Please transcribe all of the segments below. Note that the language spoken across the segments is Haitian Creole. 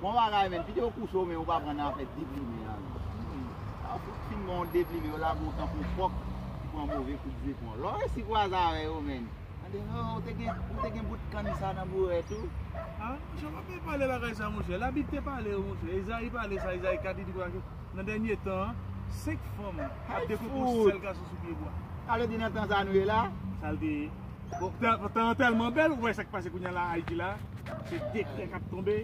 Bon bagay men, pito yo kouse w men yo pa pran nan afè deplimen an non. Sa yo fout fin ban w deplimen, yo lage w tankou kòk ki pran move kout zepon. Lè w resi kwaze avè yo men, tande, Hoo, ou te gen bout kann sa nan bourèt ou? A, monchè, w pa konn pale bagay sa monchè. Labib te pale yo monchè. Ezayi pale sa, Ezayi 4, li di konsa ke nan dènye tan an, senk fanm ap dekouvri w sèl gason sou pye bwa. Sa vle di nan tan sa nou ye la? Sa l te ye. Bon, tan an tèlman bèl, ou wè sa k pase kounye a la Ayiti la, se dekrè k ap tonbe,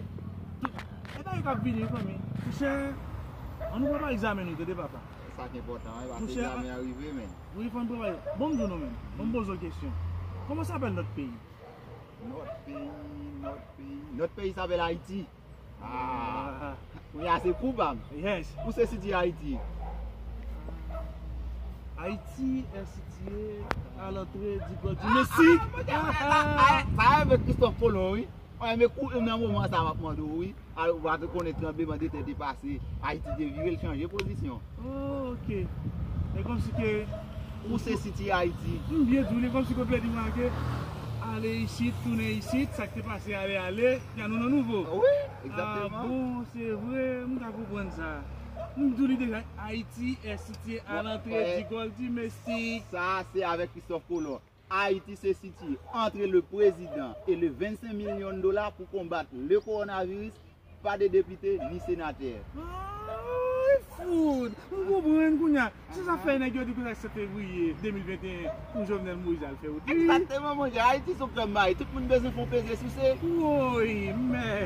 tout. E bagay k ap vini wi fanmi. Pouchè, an nou prepare egzamen nou tande papa. Se sa k enpòtan wi, paske egzamen an rive men. Wi fò n prepare. Bon m di w nou menm, bon m poze w kesyon, kòman sapèl nòt peyi? Nòt peyi, nòt peyi, nòt peyi sapèl Ayiti. Aah Kounye a se kou pam Yes Ou se City Haiti Haiti est situé à l'entrée du golfe du Mexique Sa a mèt Christophe Colomb wi Mwen renmen kou ou nan moman sa a map mande w wi Ou pa te konnen tranbleman de tè te pase Haiti te vire l chanje pozisyon Oh ok e komsi ke ou se city Haiti. M byen di w li komsi ke w vle di mwen ke ale isit tounen isit sak te pase ale ale ya nou nan nouvo. Wi exactement. Ah bon se vre m ka konprann sa. M di w li deja Haiti est situé à l'entrée du golfe du Mexique. Sa se avek Christophe Colon. Ayiti se siti antre le prezidan e le 25 milyon dola pou konbat le kowonaviris, pa de depite ni senatè. Fout! M konprann kounye a. Se sa k fè nèg yo di kounye a 7 fevriye 2021 pou Jovenel Moïse al fè wout li. Egzakteman monchè, Ayiti s on fèm may, tout moun bezwen fè yon peze souse. Woy! Mèd!